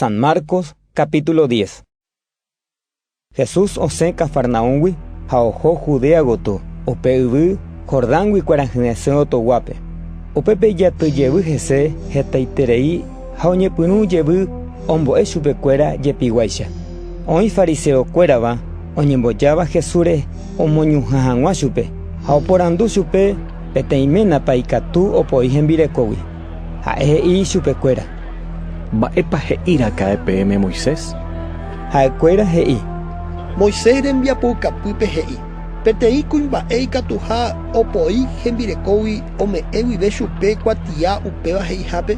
San Marcos capítulo 10 Jesús osẽ Cafarnaúmgui ha oho Judea gotyo, upe yvy Jordángui kuarahyresẽ otoguápe. Upépe ijaty jevy hese hetaiterei ha oñepyrũ jevy ombo'e chupekuéra jepiguáicha. Oĩ fariseo kuérava oñembojáva Jesúsre omoñuhã hag̃ua chupe ha oporandu chupe peteĩ ménapa ikatu opoi hembirekógui. Ha'e he'i ichupekuéra: “¿Mba'épa he'iraka'e peẽme Moisés?” Ha'ekuéra he'i: “Moisés rembiapoukapýpe he'i: ‘Peteĩ kuimba'e ikatuha opoi hembirekógui ome'ẽ guive chupe kuatia upéva he'ihápe’”.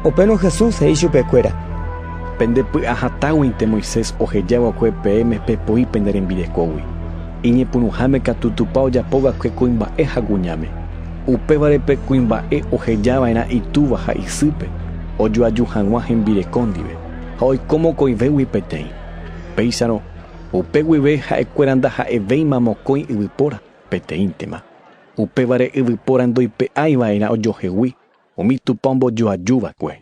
Upérõ Jesús he'i chupekuéra: “Pende py'a hatãguinte Moisés oheja va'ekue peẽme pepoi pende rembirekógui. Iñepyrũháme katu Tupã ojapo va'ekue kuimba'e ha kuñáme. Upévare pe kuimba'e oheja va'erã itúva ha isýpe ojoaju hag̃ua hembireko ndive ha oiko mokõivégui peteĩ. Péicharõ, upe guive ha'ekuéra ndaha'evéima mokõi yvypóra, peteĩntema. Upévare yvypóra ndoipe'ái va'erã ojohegui umi Tupã ombojoaju va'ekue.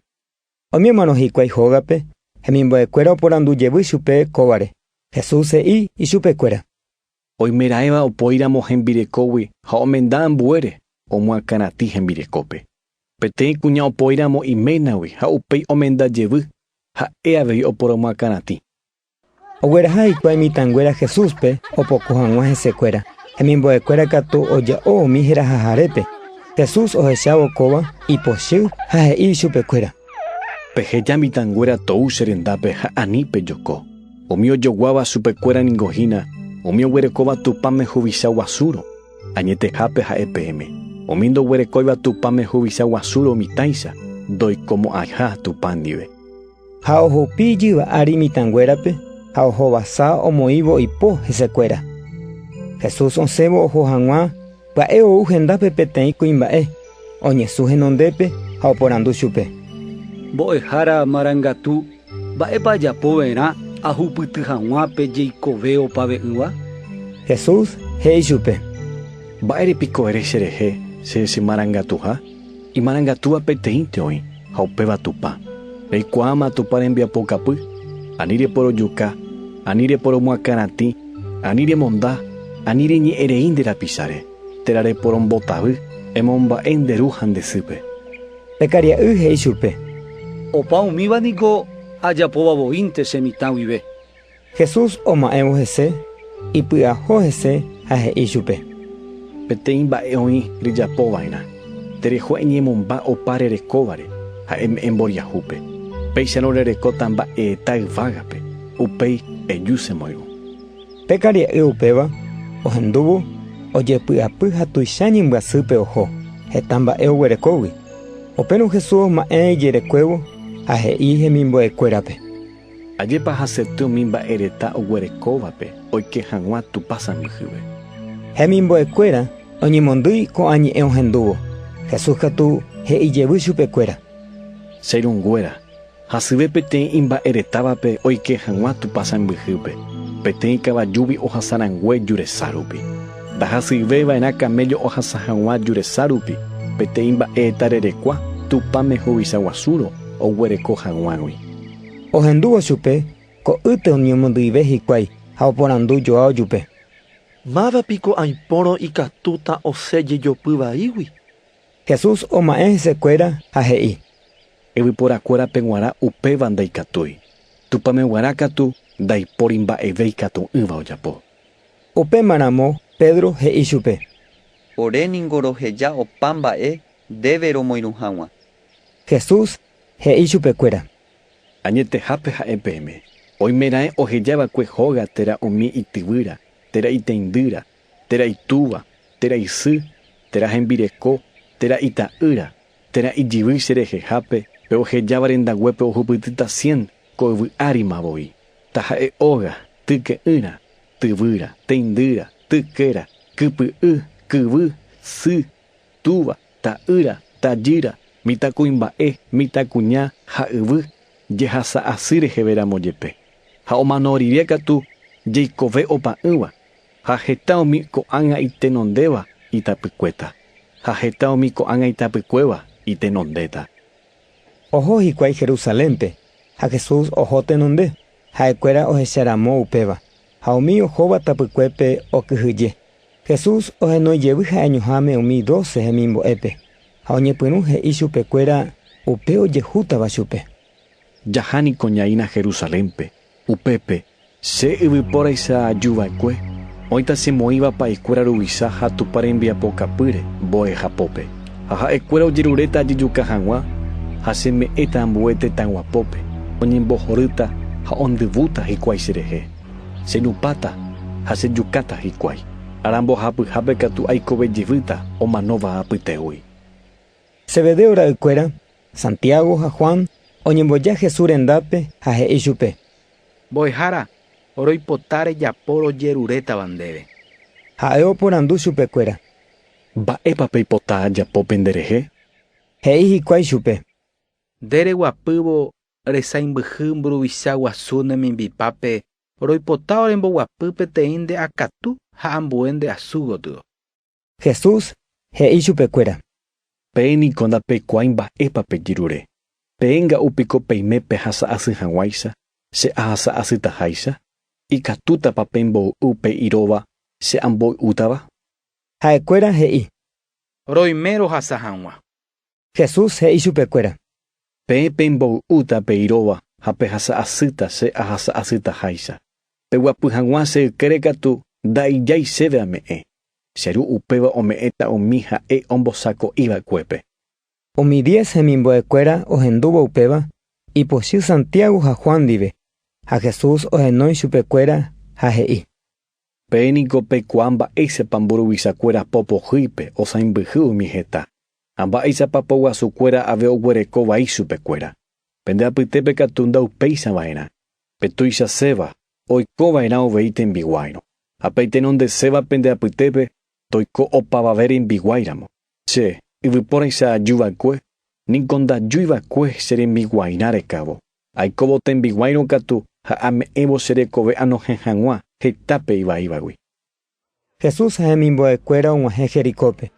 Umi omano hikuái hógape hemimbo'ekuéra oporandu jevy chupe kóvare, Jesús he'i ichupekuéra, Oimeraẽva opoíramo hembirekógui ha omenda ambuére, omoakãratĩ hembirekópe. Peteĩ kuña opoíramo iménagui ha upéi omenda jevy, ha'e avei oporomoakãratĩ. Ogueraha hikuái mitãnguéra Jesúspe opoko hag̃ua hesekuéra. Hemimbo'ekuéra katu oja'o umi herahahárepe. Jesús ohechávo kóva, ipochy ha he'i ichupekuéra. Peheja mitãnguéra tou che rendápe ha ani pejoko. Umi ojoguáva chupekuéra ningo hína umi oguerekóva Tupãme huvicha guasúrõ, añetehápe ha'e peẽme, umi ndoguerekóiva Tupãme huvicha guasúrõ mitãicha ndoikomo'ãiha Tupã ndive. Ha ohupi ijyva ári mitãnguérape ha ohovasa omoĩvo oipo hesekuéra. Jesús osẽvo oho hag̃ua pya'e ou hendápe peteĩ kuimba'e, oñesũ henondépe ha oporandu chupe: “Mbo'ehára marangatu, Mba'épa ajapo va'erã ahupyty hag̃ua pe jeikove opave'ỹva? Jesús he'i chupe. Mba'ére piko ere cherehe che chemarangatuha? Imarangatúva peteĩnte oĩ, ha upéva Tupã. Reikuaáma Tupã rembiapokapy, ani reporojuka, ani reporomoakãratĩ, ani remonda, ani reñe'ẽ rei nde rapicháre, térã reporombotavy, emomba'e nde ru ha nde sýpe. Pe karia'y he'i chupe. Opa umíva niko ajapóva voínte che mitã guive. Jesús oma'ẽvo hese, ipy'aho hese ha he'i chupe. Peteĩ mba'e oĩ rejapo va'erã. Tereho eñemomba opa rerekóvare ha eme'ẽ mboriahúpe. Péicharõ rerekóta mba'eeta yvágape, upéi eju che moirũ. Pe karia'y upéva ohendúvo ojepy'apy ha tuicha ñembyasýpe oho, heta mba'e oguerekógui. Upérõ Jesús oma'ẽ ijerekuévo ha he'i hemimbo'ekuérape: “Ajépa hasety umi mba'e reta oguerekóvape oike hag̃ua Tupã sãmbyhyve!” Hemimbo'ekuéra oñemondýi ko'ã ñe'ẽ ohendúvo, Jesús katu he'i jevy chupekuéra: “Che irũnguéra, Hasyve peteĩ imba'eretávape oike hag̃ua Tupã sãmbyhýpe, peteĩ kavajúgui ohasa rangue juresa rupi. Ndahasyive va'erã kaméllo ohasa hag̃ua juresa rupi, peteĩ mba'e tarerekua Tupãme huvicha guasúrõ oguereko hag̃uágui. Ohendúvo chupe ko'ýte oñemondy'ive hikuái ha oporandu Joao jupe. Máva piko aipórõ ikatúta osẽ jejopy vaígui? Jesús oma'ẽ hesekuéra ha he'i. Yvyporakuérape g̃uarã upéva ndaikatúi, Tupãme g̃uarã katu ndaipóri mba'eve ikatu'ỹva ojapo. Upéma ramo Pedro he'i chupe. Ore ningo roheja opa mba'e ndéve romoirũ haguã. Jesús he'i chupekuéra. Añetehápe ha'e peẽme, oimeraẽ oheja va'ekue hóga térã umi ityvýra, térã iteindýra, térã itúva, térã isy, térã hembireko, térã ita'ýra, térã ijyvy che rehehápe, pe ohejáva rendaguépe ohupytýta cien ko yvy árima voi, taha'e óga, tyke'ỹra, tyvýra, teindýra, tykéra, kypy'y, kyvy, sy, túva, ta'ýra, tajýra, mitãkuimba'e, mitãkuña ha yvy jehasa asy reheve ramo jepe, ha omano rire katu jeikove opa'ỹva, Ha heta umi ko'ág̃a itenondéva itapykuéta, ha heta umi ko'ág̃a itapykuéva itenondéta. Oho hikuái Jerusalénpe, ha Jesús oho tenonde, ha'ekuéra ohecha ramo upéva, ha umi ohóva tapykuépe okyhyje. Jesús ohenói jevy ha'eñoháme umi doce hemimbo'épe, ha oñepyrũ he'i chupekuéra upe ojehútava chupe. Jaha niko ñaína Jerusalénpe. Upépe, che yvypóra isa'aju va'ekue, oĩta che moĩva pa'i kuéra ruvicha ha Tupã rembiapokapýre mbo'eha pópe, ha ha'e kuéra ojeruréta ajejuka haguã, ha che me'ẽta ambue tetã guapópe, oñembohorýta ha ondyvúta hikuái che rehe. Che nupáta ha che jukáta hikuái, ára mbohapyhápe katu aikove jevýta omanóva apytégui. Zebedeo ra'y kuéra Santiago ha Juan oñemboja Jesús rendápe ha he'i chupe. Mbo'ehára, roipota rejapo rojerurétava ndéve. Ha'e oporandu chupekuéra. Mba'épa peipota ajapo pende rehe? He'i hikuái chupe. Nde reguapývo resãimbyhy mburuvicha guasu ne mimbipápe, roipota oremboguapy peteĩ nde akatu ha ambue nde asu gotyo. Jesús he'i chupekuéra. Peẽ niko ndapekuaái mba'épa pejyrure. Peẽnga'u piko peime pehasa asy hag̃uáicha, che ahasa asytaháicha? Ikatútapa pemboy'u pe irova che amboy'útava? Ha'ekuéra he'i. Roime rohasa hag̃ua. Jesús he'i chupekuéra. Peẽ pemboy'úta pe irova ha pehasa asýta che ahasa asytaháicha. Peguapy hag̃ua che ykére katu ndaijái chéve ame'ẽ. Che Ru upéva ome'ẽta umi Ha'e ombosako'iva'ekuépe. Umi diez hemimbo'ekuéra ohendúvo upéva ipochy Santiago ha Juan ndive, ha Jesús ohenói chupekuéra ha he'i. Pe niko peikuaa mba'éichapa mburuvichakuéra po pohýipe osãimbyhy umi heta, ha mba'éichapa po guasukuéra ave oguereko vai chupekuéra. Pende apytépe katu ndaupéicha va'erã, pe tuichaséva, oiko va'erã uvei tembiguáirõ. Ha pe aitenondeséva pende apytépe, toiko opavave rembiguái ramo. Che, yvypóraicha aju va'ekue, niko ndajúi va'ekue che rembiguairã rekávo. Aikóvo tembiguáirõ katu ha ame'ẽvo che rekove anohẽ hag̃ua heta pe ivaívagui. Jesús ha hemimbo'ekuéra og̃uahẽ Jericópe.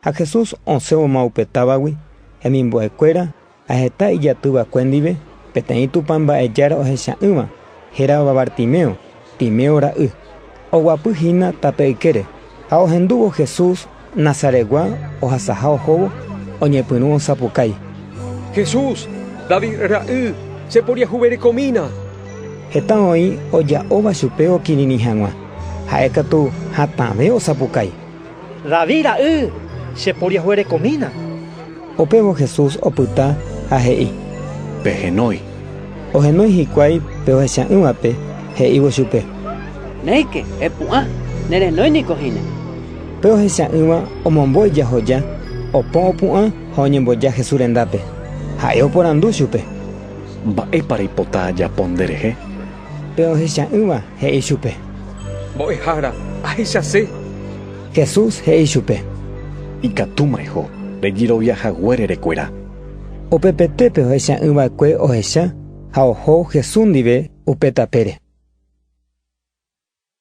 Ha Jesús osẽvoma upe távagui, hemimbo'ekuéra ha heta ijaty va'ekue ndive, peteĩ Tupã mba'ejára ohecha'ỹva, hérava Bartimeo. Timeo ra'y, oguapy hína tape ykére, ha ohendúvo Jesús Nazaretgua ohasaha ohóvo, oñepyrũ osapukái. Jesús, David ra'y, cheporiahuverekomína! Heta oĩ oja'óva chupe okirirĩ hag̃ua, ha'e katu hatãve osapukái. David ra'y, cheporiahuerekomína! Upévo Jesús opyta ha he'i. Pehenói. Ohenói hikuái pe ohecha'ỹvape, he'ívo chupe. Néike, epu'ã, nerenói niko hína. Pe ohecha'ỹva omombo ijahoja, opo opu'ã ha oñemboja Jesús rendápe. Ha'e oporandu chupe. Mba'épa reipota ajapo nderehe? Pe ohecha'ỹva he'i chupe. Mbo'ehára, ahechase. Jesús he'i chupe. Ikatúma eho, rejerovia haguére rekuera. Upepete pe ohecha'ỹva'ekue ohecha ha oho Jesús ndive upe tapére.